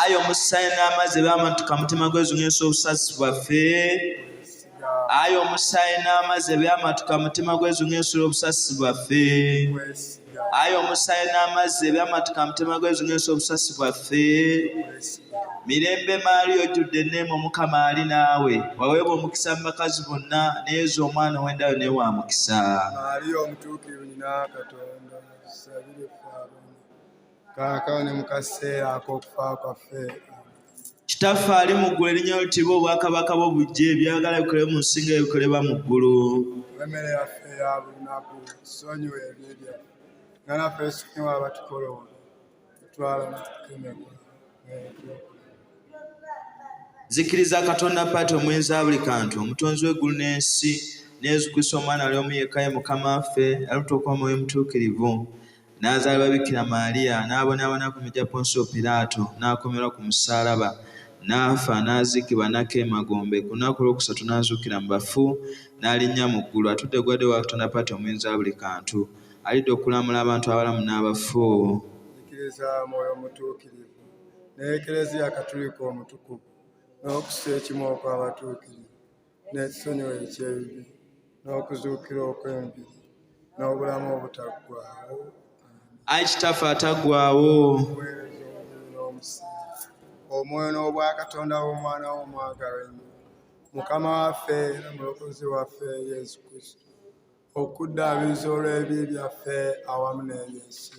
ayi omusaayi n'amazzi ebyama nti kamutima gwezung'esa obusasi bwaffe ayi omusaayi n'amazzi ebyama nti kamutima gwezung'esa obusasi bwaffe ayi omusaayi n'amazzi ebyama nti kamutima gwezung'esa obusasi bwaffe mirembe maali ojjudde enneema omukama ali naawe waweebwa omukisa mu bakazi bonna neyeeza omwana ow'endayo naye wa mukisa kaakano ne mu kaseera ak'okufa kwaffe kitaffe ali mu ggulu erinnya lyo litibwa obwakabaka bwo bujje ebyagala bikole mu nsi nga ebikolebwa mu ggulu emmere yaffe ya buli naku sonyiwa ebibi byaffe nga naffe sonyiwa abatukoloola tutwala mutukemebwa zikiriza katonda paati omwenzi wa buli kantu omutonzi w'eggulu n'ensi neyesu kristo omwana ali omu yekka ye mukama waffe yalutuuka omwoyo omutuukirivu n'azaalibwa Bikira Maaliya, n'abonaabona ku miti gya Ponsiyo Piraato, n'akomerwa ku musaalaba, n'afa, n'aziikibwa, n'akka emagombe, ku lunaku olwokusatu n'azuukira mu bafu, n'alinnya mu ggulu, atudde ku ddyo wa Katonda Paata Omuyinza wa buli kantu, alidda okulamula abantu abalamu n'abafu. Nzikiriza Mwoyo Mutuukirivu, n'Ekleziya Katulika Omutukuvu, n'okussa ekimu okw'abatuukirivu. n'esonyiwa eky'ebibi n'okuzuukira okw'emibiri n'obulamu obutaggwaawo ayi kitaffe ataggwaawo omwoyo n'obwakatonda w'omwana w'omwagala ennyo mukama waffe era mulokozi waffe yesu kristo okuddaabiriza olw'ebi byaffe awamu n'ebyensi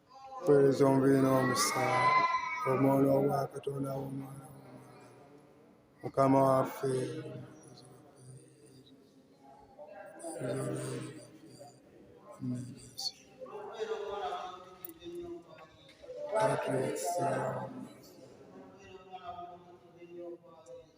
Kwereza omubiri n'omusaala omwono obwa Katonda w'omwana mukama waffe Thank you.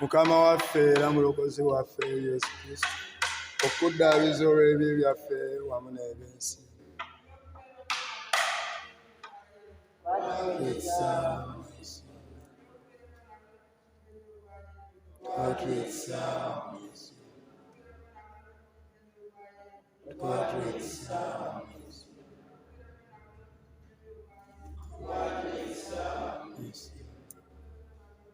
mukama waffe era mulokozi waffe yesu kristo okuddaabiza olw'ebyo byaffe wamu n'ebyensi Yes.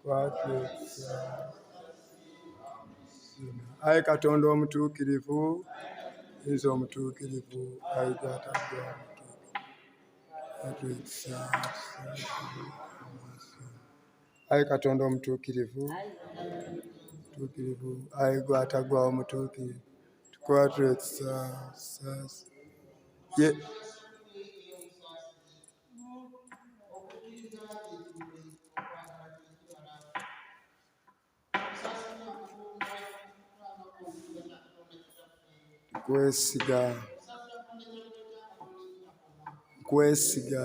kwatula ekisa ayi katonda omutuukirivu nze omutuukirivu ayi gwatadde omutuukirivu ekisa ayi katonda omutuukirivu mutuukirivu ayi gwatagwawo mutuukirivu tukwatula ekisa sasa kwesiga kwesiga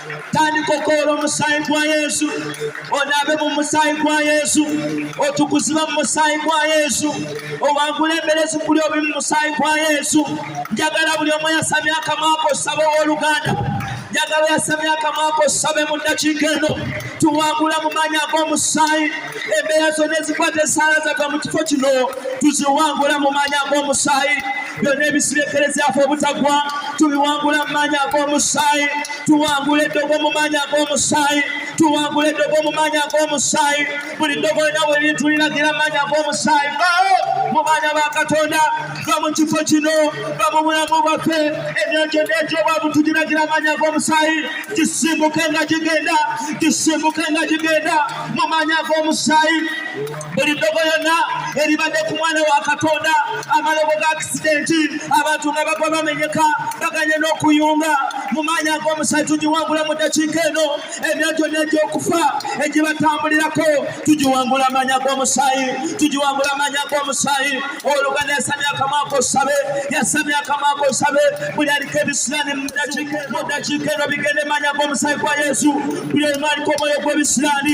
tandika okoola omusaayi gwa yesu onaabe mu musaayi gwa yesu otukuziba mu musaayi gwa yesu owangula emberezi kuli obi mu musaayi gwa yesu njagala buli omu yasamya akamwako osaba ow'oluganda njagala yasamya akamwako osabe mu ddakiika eno tuwangula mu maanyi ag'omusaayi embeera zonna ezikwata esaala zava mu kifo kino tuziwangula mu maanyi ag'omusaayi byonna ebisirekerezaafe obutagwa tubiwangula mu maanyi ag'omusaayi tuwangula eddogo mu maanyi ag'omusaayi tuwangula eddogo mu maanyi ag'omusaayi buli ddogo lina bwe lituliragira mu maanyi ag'omusaayi bawo mu baana ba katonda va mu kifo kino va mu bulamu bwaffe emyoyo gyonna egy'obwavu tugiragira amaanyi ag'omusaayi gisimbuke nga gigenda gisimbuke nga gigenda mu maanyi ag'omusaayi buli ddogo yonna eribadde ku mwana wa katonda amalogo ga akisidenti abantu nga bagwa bamenyeka baganye n'okuyunga mu maanyi ag'omusaayi tugiwangula mu ddakiika eno emya gyonna egy'okufa egibatambulirako tugiwangula amaanyi ag'omusaayi tugiwangula amaanyi ag'omusaayi oluganda yasamya akamwako osabe yasamya akamwako osabe buli aliko ebisirani mu ddakiika eno bigende maanyi ag'omusaayi gwa yesu buli omu aliko omwoyo gw'ebisirani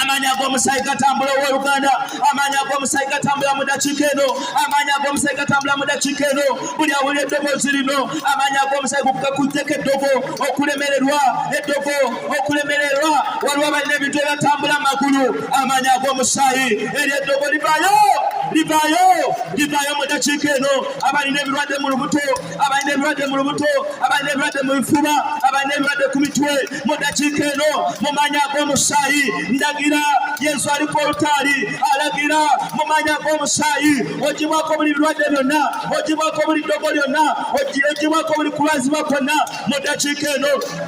amaanyi ag'omusaayi gatambula ow'oluganda amaanyi ag'omusaayi gatambula mu dakiika eno amaanyi ag'omusaayi gatambula mu dakiika eno buli awulira eddoboozi lino amaanyi ag'omusaayi gakujjeko eddogo okulemererwa eddogo okulemererwa waliwo balina ebintu ebyatambula amagulu amaanyi ag'omusaayi eri eddogo livaayo livaayo livaayo mu dakiika eno abalina ebirwadde mu lubuto abalina ebirwadde mu lubuto abalina ebirwadde mu bifuba abalina ebirwadde ku mitwe mu dakiika eno mu maanyi ag'omusaayi ndagira yesu ali ku olutaali alagira mu maanyi ag'omusaayi ogibwako buli birwadde byonna ogibwako buli ddogo lyonna ogibwako buli kulwazibwa kwonna mu dakiika eno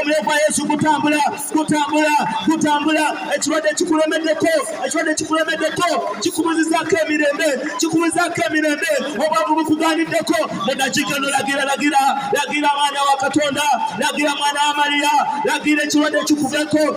omuliro gwa yesu gutambula gutambula gutambula ekirwadde kikulemeddeko ekirwadde kikulemeddeko kikubuzizaako emirembe kikubuzizaako emirembe obwavu bukuganiddeko munakika no lagira lagira lagira mwana wa katonda lagira mwana wa mariya lagira ekirwadde kikuveko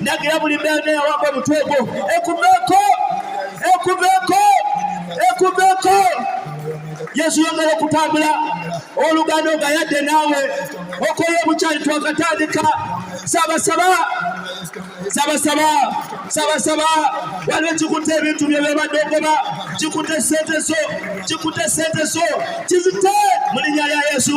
Nagira buli mbeera eyawamba omutwe gwo ekuveeko, ekuveeko, ekuveeko. Yesu yongera okutambula oluganda nga yadde naawe okola obukyali twakatandika sabasaba sabasaba sabasaba waliwo kikutte ebintu bye byobadde ogoba kikutte sente zo kikutte sente zo kizite mu linnya lya yesu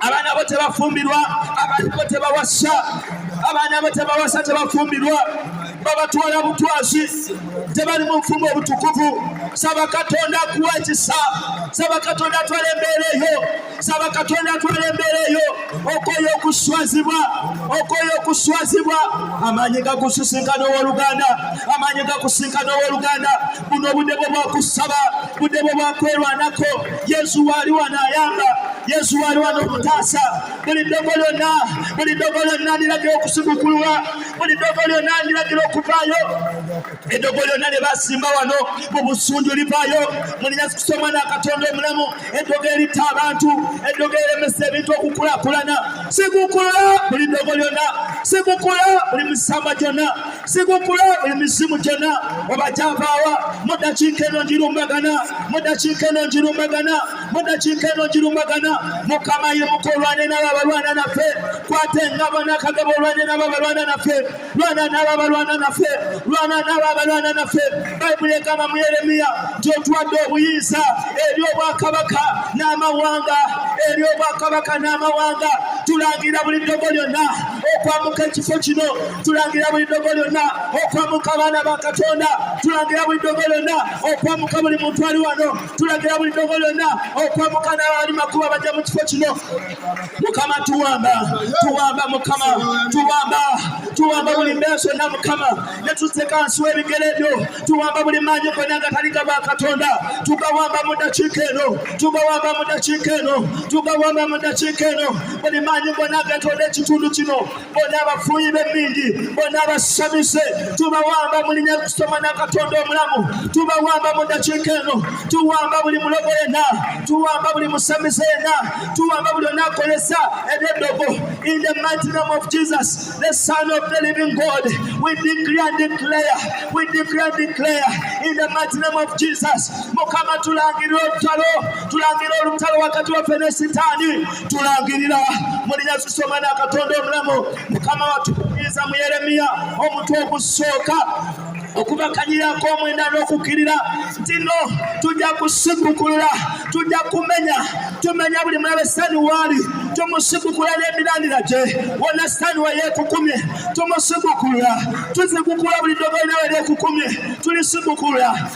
abaana bo tebafumbirwa abaana bo tebawasa abaana bo tebawasa tebafumbirwa babatwala butwazi tebali mu nfumu obutukuvu saba katonda akuwa ekisa saba katonda atwala embeera eyo saba katonda atwala embeera eyo okoyo okuswazibwa okoyo okuswazibwa amaanyi gakusisinka n'owoluganda amaanyi gakusisinka n'owoluganda buno obudde bwo bwakusaba budde bwe bwakwerwanako yesu waali wanaayamba yesu waali wano okutaasa buli ddogo lyonna buli ddogo lyonna ndiragira okusigukulwa buli ddogo lyonna ndiragira okuvaayo eddogo lyonna lye basimba wano mu busunju livaayo mulina kusoma n'akatonda omulamu eddogo eritta abantu eddogo eremesa ebintu okukulakulana sigukulwa buli ddogo lyonna sigukulwa buli misamba gyonna sigukula emizimu gyonna oba gyavaawa mu ddakiika eno ngirumbagana mu ddakiika eno ngirumbagana mu ddakiika eno ngirumbagana mukama ye muka olwane nabo abalwana naffe kwata engabo n'akagabo olwane nabo abalwana naffe lwana nabo abalwana naffe lwana nabo abalwana naffe bayibuli egamba mu yeremiya nti otuwadde obuyinza eri obwakabaka n'amawanga eri obwakabaka n'amawanga tulangira buli ddogo lyonna okwamuka ekifo kino tulangira buli ddogo lyonna okwamuka abaana ba katonda tulangira buli ddogo lyonna okwamuka buli muntu ali wano tulangira buli ddogo lyonna okwamuka n'abali makuba bajja mu kifo kino mukama tuwamba tuwamba mukama tuwamba tuwamba buli mbeeso na mukama ne tuteeka wansi w'ebigere byo tuwamba buli maanyi gonna nga taliga ba katonda tugawamba mu ddakiika eno tugawamba mu ddakiika eno tugawamba mu ddakiika eno buli maanyi gonna agetoola ekitundu kino bona abafuuyi b'emmindi bona abasamize tubawamba mu linya kusoma na katonda omulamu tubawamba mu ddakiika eno tuwamba buli mulogo yena tuwamba buli musamize yena tuwamba buli onakolesa ebyeddogo in the mighty name of jesus the son of the living god we decree and declare we decree and declare in the mighty name of jesus mukama tulangirira olutalo tulangirira olutalo wakati waffe ne sitaani tulangirira mulinya zisoma na katonda omulamu mukama watukumiza mu yeremiya omutwe ogusooka okubakanyirako omwenda n'okukkirira nti no tujja kusibukulula tujja kumenya tumenya buli mulabe sani waali tumusibukula n'emirandira gye wona sani we yeekukumye tumusibukula tuzibukula buli ddogo linawe lyekukumye tulisibukulula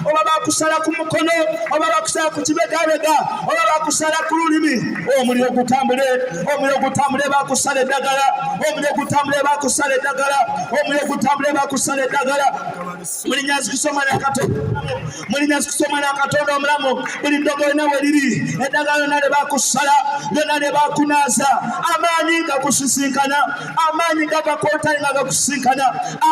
oba bakusala ku mukono oba bakusala ku kibegabega oba bakusala ku lulimi omuliro gutambule omuliro gutambule bakusala eddagala omuliro gutambule bakusala eddagala omuliro gutambule bakusala eddagala mulinya zikusoma nakato mulinya zikusoma nakatonda omulamu buli ddogo yona we liri eddagala lyona lye bakusala lyona lye bakunaaza amaanyi nga kusisinkana amaanyi nga gakontane nga gakusisinkana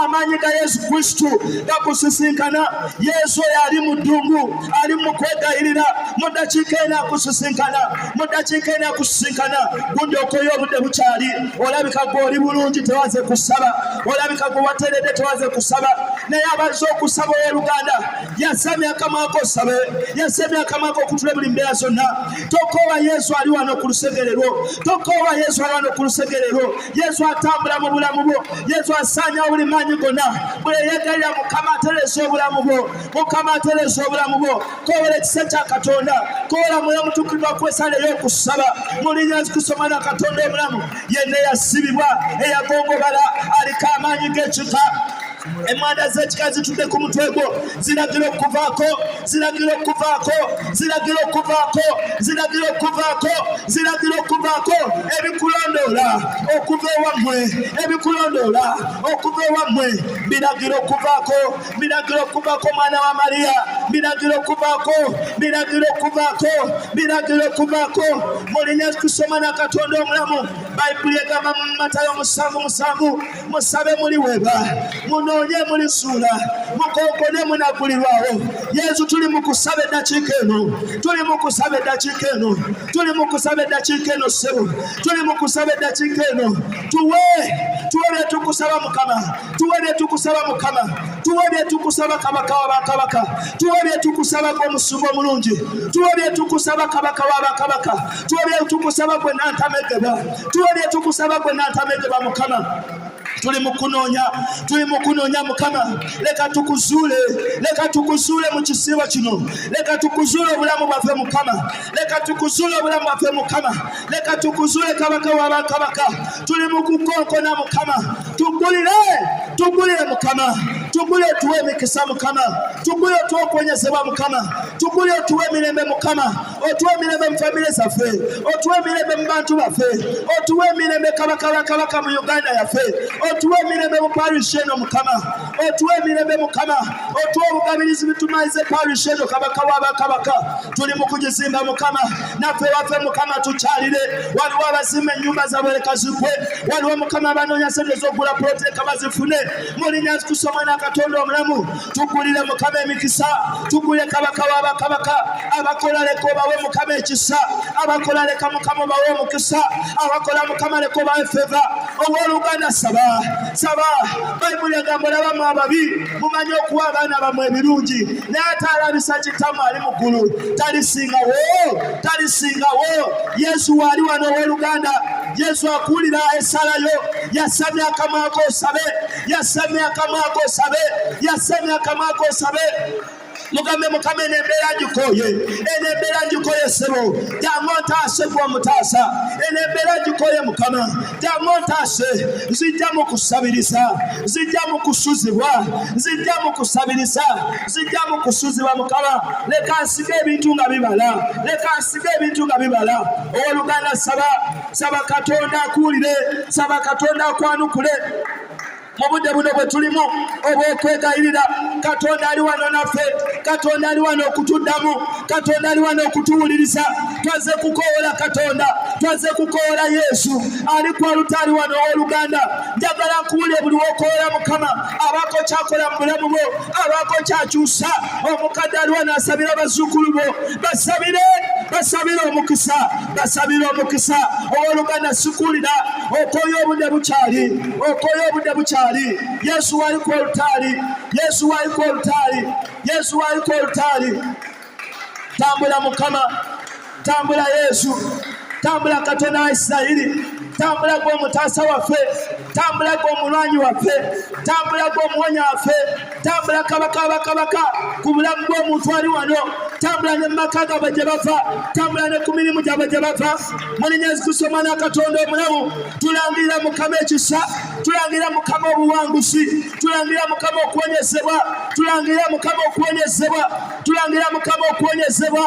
amaanyi ga yesu kristu gakusisinkana yesu oyo ali mu ddungu ali mu kwegayirira mu ddakiika ena akusisinkana mu ddakiika ena akusisinkana gundi okoyo obudde bukyali olabika gwe oli bulungi tewaze kusaba olabika gwe wateredde tewaze kusaba naye abazze okusaba ow'oluganda yasamya akamwako osabe yasamya akamwako okutula buli mbeera zonna tokoowa yesu ali wano ku lusegere lwo tokoowa yesu ali wano ku lusegere lwo yesu atambula mu bulamu bwo yesu asaanyawo buli maanyi gonna bweyeyagalira mukama atereza obulamu bwo mukama atereza obulamu bwo kowera ekisa kya katonda kowera mwoyo omutukirivu akwesala ey'okusaba mulinya kusoma na katonda obulamu yenna eyasibibwa eyagongobala aliko amaanyi g'ekika emanda z'ekika zitudde ku mutwe gwo ziragira okuvaako ziragira okuvaako ziragira okuvaako ziragira okuvaako ziragira okuvaako ebikulondoola okuva ewammwe ebikulondoola okuva ewammwe biragira okuvaako biragira okuvaako omwana wa mariya biragira okuvaako biragira okuvaako biragira okuvaako mulinya kusoma na katonda omulamu bayibuli egamba mu matayo musanvu musanvu musabe muliwebwa munoonye mulisuula mukonkone munakulirwawo yesu tuli mukusaba eddakiika eno tuli mukusaba eddakiika eno tuli mukusaba eddakiika eno ssebo tuli mukusaba eddakiika eno tuwe tuwe byetukusaba mukama tuwe byetukusaba mukama tuwe byetukusaba kabaka wa bakabaka tuwe byetukusaba gwe omusumba omulungi tuwe byetukusaba kabaka wa bakabaka tuwe byetukusaba gwe nantamegebwa tuwe byetukusaba gwe natabedeba mukama tuli mukunoonya tuli mukunoonya mukama leka tukuzuule leka tukuzuule mu kisiibo kino leka tukuzuule obulamu bwaffe mukama leka tukuzuule obulamu bwaffe mukama leka tukuzuule kabaka wa bakabaka tuli mukukonkona mukama tugulire tugulire mukama tugule tuwe emikisa mukama tugule tuwe okuwonyezebwa mukama tugule tuwe emirembe mukama otuwa emirembe mu famire zaffe otuwa emirembe mu bantu baffe otuwa emirembe kabaka wa kabaka mu uganda yaffe otuwa emirembe mu parish eno mukama otuwa emirembe mukama otuwa obugabirizi bitumaize parish eno kabaka wa bakabaka tuli mu kugizimba mukama naffe waffe mukama tukyalire waliwo abazimba ennyumba zabwe leka zigwe waliwo mukama abanoonya sente z'okugula puloti leka bazifune mulinya kusomwa na katonda omulamu tugulire mukama emikisa tugule kabaka wa bakabaka abakola leka obawe mukama ekisa abakola leka mukama obawe omukisa abakola mukama leka obawe feva owoluganda saba saba bayibuli egambo labamu ababi mumanyi okuwa abaana bamwe ebirungi naye ate alabisa kitamu ali mu ggulu talisingawo talisingawo yesu waali wano owoluganda yesu akuwulira esalayo yasamya akamwako osabe yasamya akamwa ako osabe yasamya akamwa ako osabe mugambe mukama eno embeera ngikoye eno embeera ngikoye ssebo jangu ontaase gwe omutaasa eno embeera ngikoye mukama jangu ontaase nzijja mu kusabiriza nzijja mu kusuzibwa nzijja mu kusabiriza nzijja mu kusuzibwa mukama leka nsiga ebintu nga bibala leka nsiga ebintu nga bibala owoluganda saba saba katonda akuwulire saba katonda akwanukule mu budde buno bwe tulimu obw'okwegayirira katonda ali wano naffe katonda ali wano okutuddamu katonda ali wano okutuwuliriza twaze kukoola katonda twaze kukoola yesu ali ku alutaali wano ow'oluganda njagala nkuwulire buli wokoola mukama abaako kyakola mu bulamu bwo abaako kyakyusa omukadde ali wano asabira abazzukulu bo basabire basabire omukisa basabira omukisa ow'oluganda sikuulira okoye obudde bukyali okoye obudde bukyali yesu waliko olutaali yesu waliko olutaali yesu waliko olutaali tambula mukama tambula yesu tambula katonda wa isirayiri tambula gwe omutaasa waffe tambula gwe omulwanyi waffe tambula gwe omuwonya waffe tambula kabaka bakabaka ku bulamu bw'omuntu ali wano tambula ne mu maka gabwe gye bava tambula ne ku mirimu gyabwe gye bava munenya ezikusoma n'akatonda omulamu tulangirira mukama ekisa tulangirira mukama obuwanguzi tulangirira mukama okuwonyezebwa tulangirira mukama okuwonyezebwa tulangirira mukama okuwonyezebwa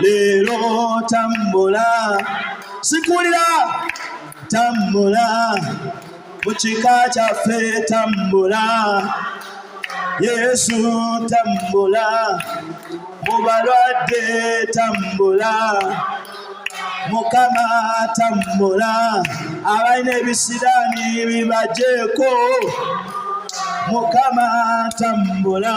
leero tambula sikulira tambula mu kika kyaffe tambula yesu tambula mu balwadde tambula mukama tambula abalina ebisiraani bibajeeko mukama tambula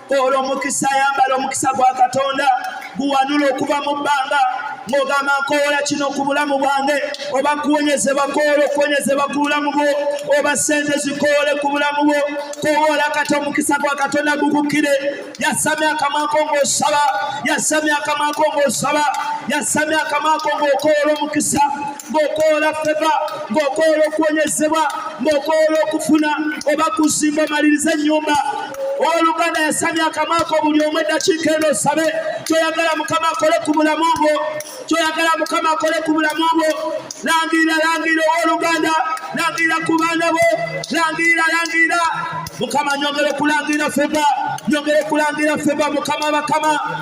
olwo omukisa ayambala omukisa gwa katonda guwanula okuva mu bbanga ng'ogamba nkoola kino ku bulamu bwange oba kuwonyezebwa koola okuwonyezebwa ku bulamu bwo oba sente zikoole ku bulamu bwo kowoola kati omukisa gwa katonda gukukkire yasamya akamwako ng'osaba yasamya akamwako ng'osaba yasamya akamwako ng'okoola omukisa ng'okoola feva ng'okoola okuwonyezebwa ng'okoola okufuna oba kuzimba omaliriza ennyumba owoluganda yasamya akamaako buli omu eddakiika eno osabe kyoyagala mukama akole ku bulamu bwo kyoyagala mukama akole ku bulamu bwo langirira langirira owoluganda langirira ku baana bo langirira langirira mukama nyongere kulangirira feba nyongere kulangirira feba mukama bakama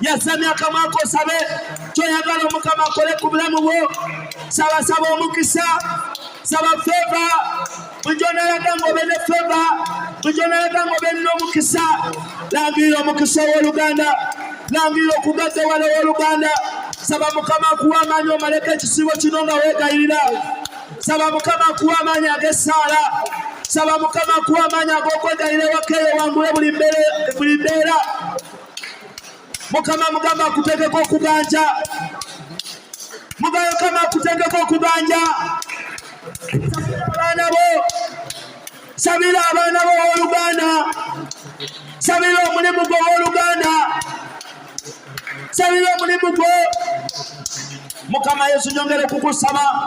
yasamya akamwa kosabe kyoyagala omukama akole ku bulamu bwo sabasaba omukisa saba feva bujonalaga nga obe ne feva bujonalaga nga obe nina omukisa langirira omukisa ow'oluganda langirira okugaggawala ow'oluganda saba mukama akuwa amaanyi omaleko ekisibo kino nga weegayirira saba mukama akuwa amaanyi ag'essaala saba mukama akuwa amaanyi ag'okwegayira ewakeeyo wangule buli mbeera mukama mugamba akutegeka okuganja mugayo kama akutegeka okuganja abaana bo sabira abaana bo owoluganda sabira omulimu gwo owoluganda sabira omulimu gwo mukama yesu nyongere kukusaba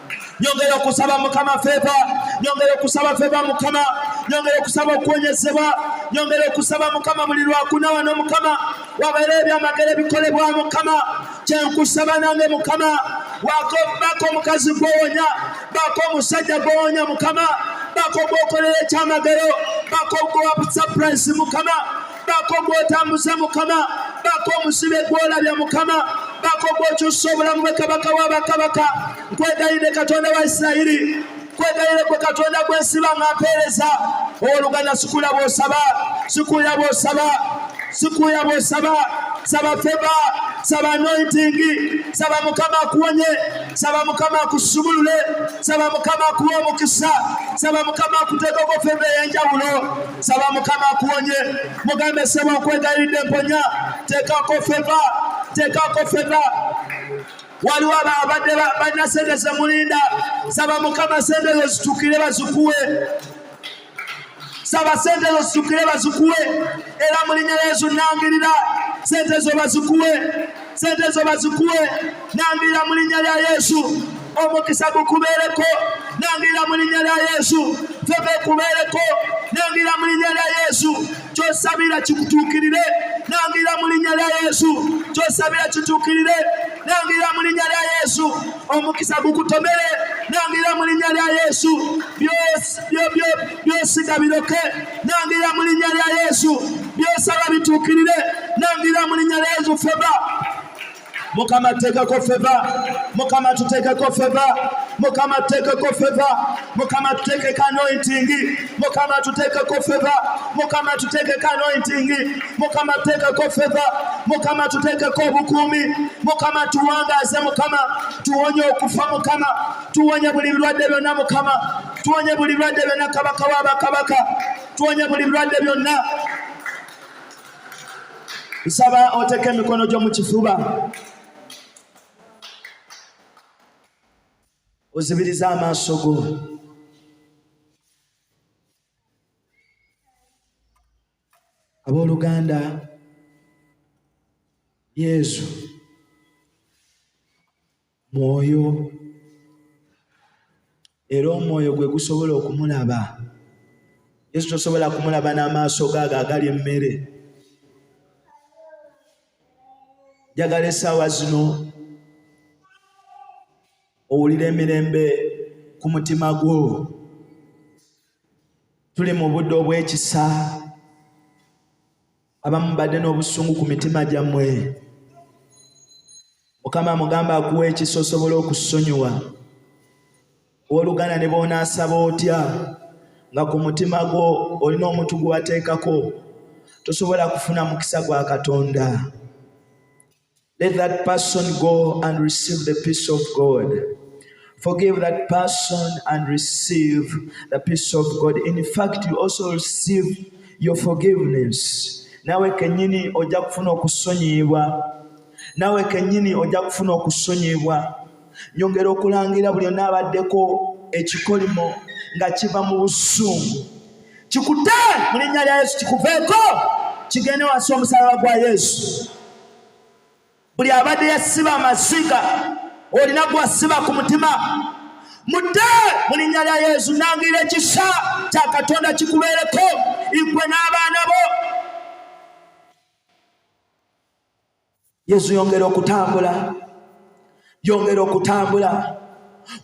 nyongera okusaba mukama feva nyongera okusaba feva mukama nyongera okusaba okuwonyezebwa nyongera okusaba mukama buli lwakuna wano mukama wabeera ebyamagero ebikolebwa mukama kyenkusaba nange mukama wako bako omukazi gwowonya bako omusajja gwowonya mukama bako gwokolera ekyamagero bako gwowa surprise mukama baako gwotambuza mukama baako omusibe gwolabya mukama baako gwokyusa obulamu bwe kabaka wabakabaka nkwegayidde katonda wa isirayiri kwegayire gwe katonda gwensiba nga mpeereza owoluganda sikuya bwosaba sikuya bwosaba sikuya bwosaba saba feba saba anointingi saba mukama akuwonye saba mukama akusumulule saba mukama akuwa omukisa saba mukama akuteekoko feba eyenjawulo saba mukama akuwonye mugambe saba okwegayiride mponya tekako feva tekako feva waliwo abadde balina sente zemulinda saba mukama sente ezo zitukire bazikuwe saba sente ezo zitukire bazikuwe era mulinya yesu nangirira sente ezo bazikuwe sente zo bazikuwe nangirira mu linnya lya yesu omukisa gukubeereko nangirira mu linnya lya yesu febe kubeereko nangirira mu linnya lya yesu kyosabira kikutuukirire nangirira mu linnya lya yesu kyosabira kituukirire nangirira mu linnya lya yesu omukisa gukutomere nangirira mu linnya lya yesu byos byobyo byosiga biroke nangira mu linnya lya yesu byosaba bituukirire nangira mu linnya lya yesu feba mukama teekako feva mukama tuteekeko feva mukama tuteekeko feva mukama tuteekeko anointingi mukama tuteekeko feva mukama tuteekeko anointingi mukama tuteekeko feva mukama tuteekeko obukuumi mukama tuwangaaze mukama tuwonye okufa mukama tuwonye buli birwadde byonna mukama tuwonye buli bulwadde byonna kabaka wa bakabaka tuwonye buli bulwadde byonna nsaba oteeka emikono gyo mu kifuba ozibiriza amaaso go abooluganda yesu mwoyo era omwoyo gwe gusobola okumulaba yesu tosobola kumulaba n'amaaso gaago agali emmere njagala essaawa zino owulira emirembe ku mutima gwo tuli mu budde obw'ekisa abamu mbadde n'obusungu ku mitima gyammwe mukama amugamba akuwa ekisa osobola okusonyiwa oluganda ne boonaasaba otya nga ku mutima gwo olina omuntu gwe wateekako tosobola kufuna mukisa gwa katonda Let that person go and receive the peace of God. Forgive that person and receive the peace of God. In fact, you also receive your forgiveness. Nawe kenyini oja kufuna okusonyibwa. Nawe kenyini oja kufuna okusonyibwa. nyongera okulangira buli onaabaddeko ekikolimo nga kiva mu busungu kikute mu linnya lya yesu kikuveeko kigende wansi omusalaba gwa yesu buli abadde yasiba amaziga olina gwasiba ku mutima mudde mu linnya lya yesu nangira ekisa kya katonda kikubeereko igwe n'abaana bo yesu yongera okutambula yongera okutambula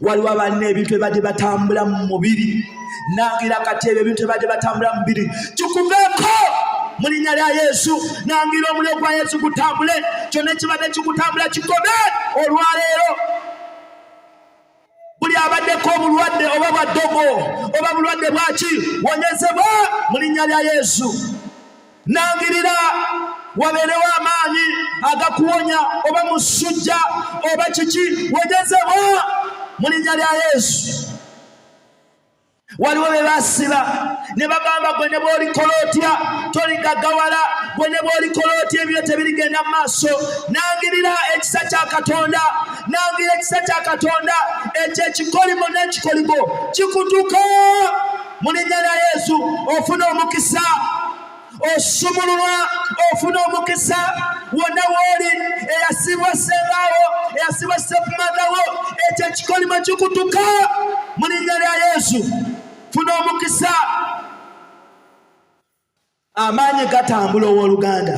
waliwo abalina ebintu ebibadde batambula mu mubiri nangira kati ebyo ebintu ebibadde batambula mu mubiri kikuveeko mu linnya lya yesu nangira omuliro gwa yesu gutambule kyonna ekibadde kikutambula kikome olwaleero buli abaddeko obulwadde oba bwa ddogo oba bulwadde bwaki wonyezebwa mu linnya lya yesu nangirira wabeerewo amaanyi agakuwonya oba musujja oba kiki wonyezebwa mu linnya lya yesu waliwo be basiba ne bagamba gwe ne bwolikola otya toligagawala gwe ne bwolikola otya ebyo tebirigenda mu maaso nangirira ekisa kya katonda nangira ekisa kya katonda ekyo ekikolimo n'ekikolimo kikutuka mu linnya lya yesu ofuna omukisa osumululwa ofuna omukisa wonna wooli eyasibwa sembaawo eyasibwa sefumadhawo ekyo ekikolimo kikutuka mu linnya lya yesu funa omukisa amaanyi gatambula ow'oluganda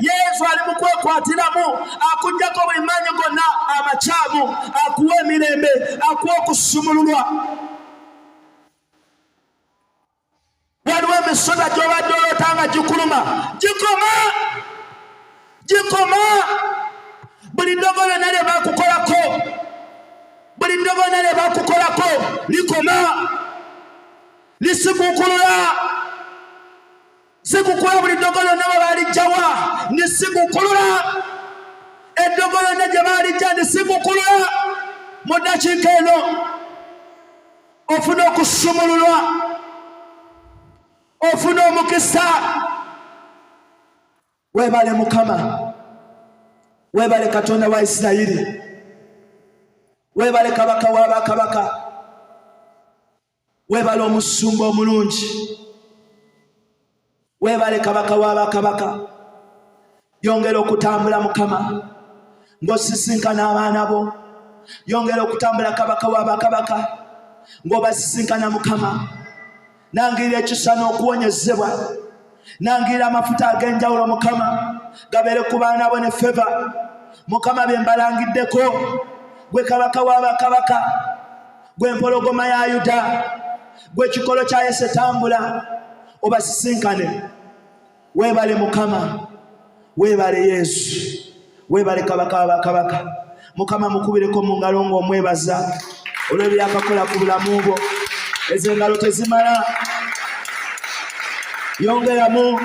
Yesu ali mu kwekwatiramu, akugyako buli maanyi gonna amakyamu, akuwa emirembe, akuwa okusumululwa. Waliwo emisota gy'obadde olota nga gikuluma, gikoma, gikoma. Buli ddogo lyonna lye bakukolako, buli ddogo lyonna lye bakukolako likoma, lisiguukulula. sikukola buli ddogo lyonna bwe balijjawa ndi sikukulula eddogo lyonna gye balijja ndi sikukulula mu ddakiika eno ofuna okusumululwa ofuna omukisa webale mukama webale katonda wa isirayiri webale kabaka wa bakabaka webale omusumba omulungi webale kabaka wa bakabaka yongera okutambula mukama ng'osisinkana abaana bo yongera okutambula kabaka wa bakabaka ng'obasisinkana mukama nangirira ekisa n'okuwonyezebwa nangirira amafuta ag'enjawulo mukama gabeere ku baana bo ne feva mukama bye mbalangiddeko gwe kabaka wa bakabaka gwe mpologoma ya yuda gwe kikolo kya yese tambula obasisinkane webale mukama webale yesu webale kabaka wabakabaka mukama mukubireko mu ngalo ngaomwebaza olwebyakakola ku bulamu bwo ezo engalo tezimala yongeramu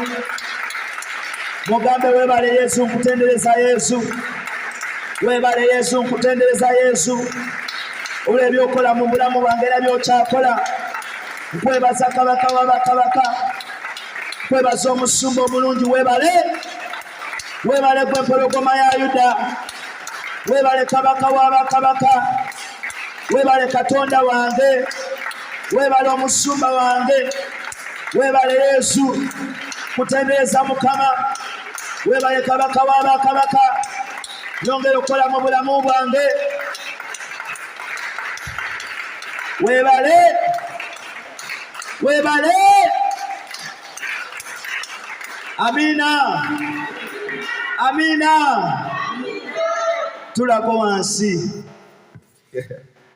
mugambe webale yesu nkutendereza yesu webale yesu nkutendereza yesu olw'ebyokola mu bulamu bwange era byokyakola nkwebaza kabaka wabakabaka kwebaza omusumba omulungi webale webale gwe mpologoma ya yuda webale kabaka wabakabaka webale katonda wange webale omusumba wange webale yesu kutendereza mukama webale kabaka wabakabaka nyongera okukola mu bulamu bwange webale webale amina amina tulako wansi